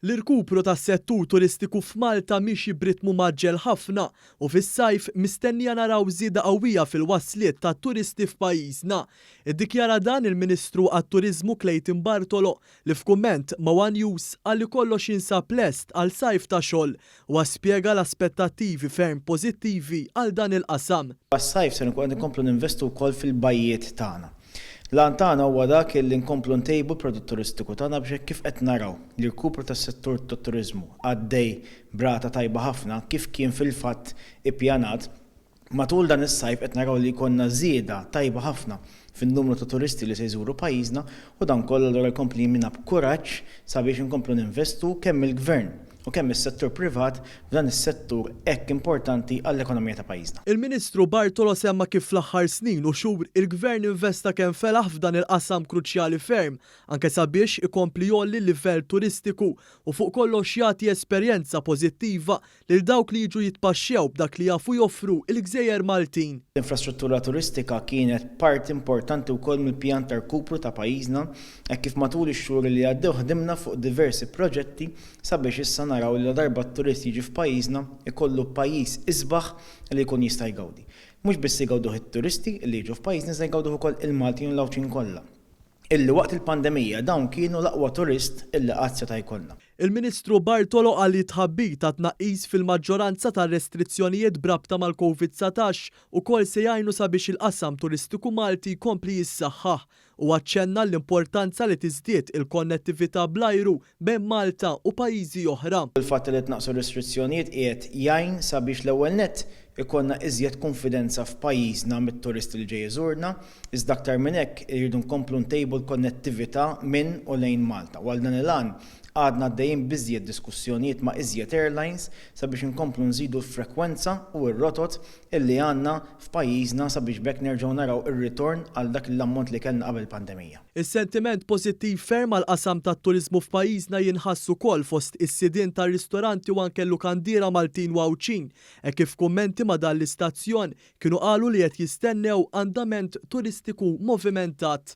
L-irkupru tas-settur turistiku f'Malta miexi b'ritmu mgħaġġel ħafna u fis-sajf mistennija naraw żieda qawwija fil-wasliet tat-turisti f'pajjiżna. Iddikjara dan il-Ministru għat-Turiżmu Clayton Bartolo li f'kumment ma' one News qal li kollox jinsab lest għal sajf ta' xogħol Huwa spjega l-aspettattivi ferm pożittivi għal dan il-qasam. Għas-sajf ser inkunu qed inkomplu ninvestu wkoll fil-bajjiet tagħna. L-għan tagħna huwa dak li nkomplu ntejbu l-prodott turistiku tagħna biex hekk kif qed naraw l-irkupru tas-settur tat-turiżmu għaddej b'rata tajba ħafna kif kien fil-fatt ippjanat, Matul dan is-sajf qed naraw li jkollna żieda tajba ħafna fin-numru ta' turisti li se jżuru pajjiżna u dan kollu allura jkompli jimmina b'kuraġġ sabiex inkomplu ninvestu kemm il-Gvern u kemm is-settur privat f'dan is-settur hekk importanti għall-ekonomija ta' pajjiżna. Il-Ministru Bartolo semma kif fl-aħħar snin u xhur il-Gvern investa kemm felaħ f'dan il-qasam kruċjali ferm anke sabiex ikompli jgħolli l-livell turistiku u fuq kollox jagħti esperjenza pożittiva lil dawk li jiġu jitpaxxew b'dak li jafu joffru il-gżejjer Maltin. L-infrastruttura turistika kienet parti importanti wkoll mill-pjan ta' rkupru ta' pajjiżna hekk kif matul ix-xhur li għaddew ħdimna fuq diversi proġetti sabiex issa naraw li ladarba t-turist jiġi f'pajjiżna jkollu pajjiż isbaħ li jkun jista' jgawdi. Mhux biss igawduh it-turisti li jiġu f'pajjiżna iżda jgawduh ukoll il-Maltin u l-Għawdxin kollha. illi waqt il-pandemija dawn kienu l-aqwa turist illi qatt seta' jkollna. Il-Ministru Bartolo qal li t-tħabbir ta' tnaqqis fil-maġġoranza tar-restrizzjonijiet b'rabta mal-Covid satax ukoll se jgħinu sabiex il-qasam turistiku Malti jkompli jissaħħaħ. Huwa ċċenna l-importanza li tiżdied il-konnettività bl-ajru bejn Malta u pajjiżi oħra. Il-fatt li tnaqqsu r-restrizzjonijiet qiegħed jgħin sabiex l-ewwel nett ikollna iżjed kunfidenza f'pajjiżna mit-turist li ġej iżurna, iżda aktar minn hekk irridu nkomplu ntejbu l-konnettività minn u lejn Malta u għal dan il-għan għadna għaddejjin b'iżjed diskussjonijiet ma' iżjed airlines sabiex inkomplu nżidu l-frekwenza u r-rotot illi għandna f'pajjiżna sabiex b'hekk nerġgħu naraw ir-ritorn għal dak l-ammont li kellna qabel il-pandemija. Is-sentiment pożittiv ferm għall-qasam tat-turiżmu f'pajjiżna jinħass ukoll fost is-sidien tar-ristoranti u anke l-lukandiera Maltin u Għawdxin hekk kif f'kummenti ma' dan l-istazzjon kienu qalu li qed jistennew andament turistiku movimentat.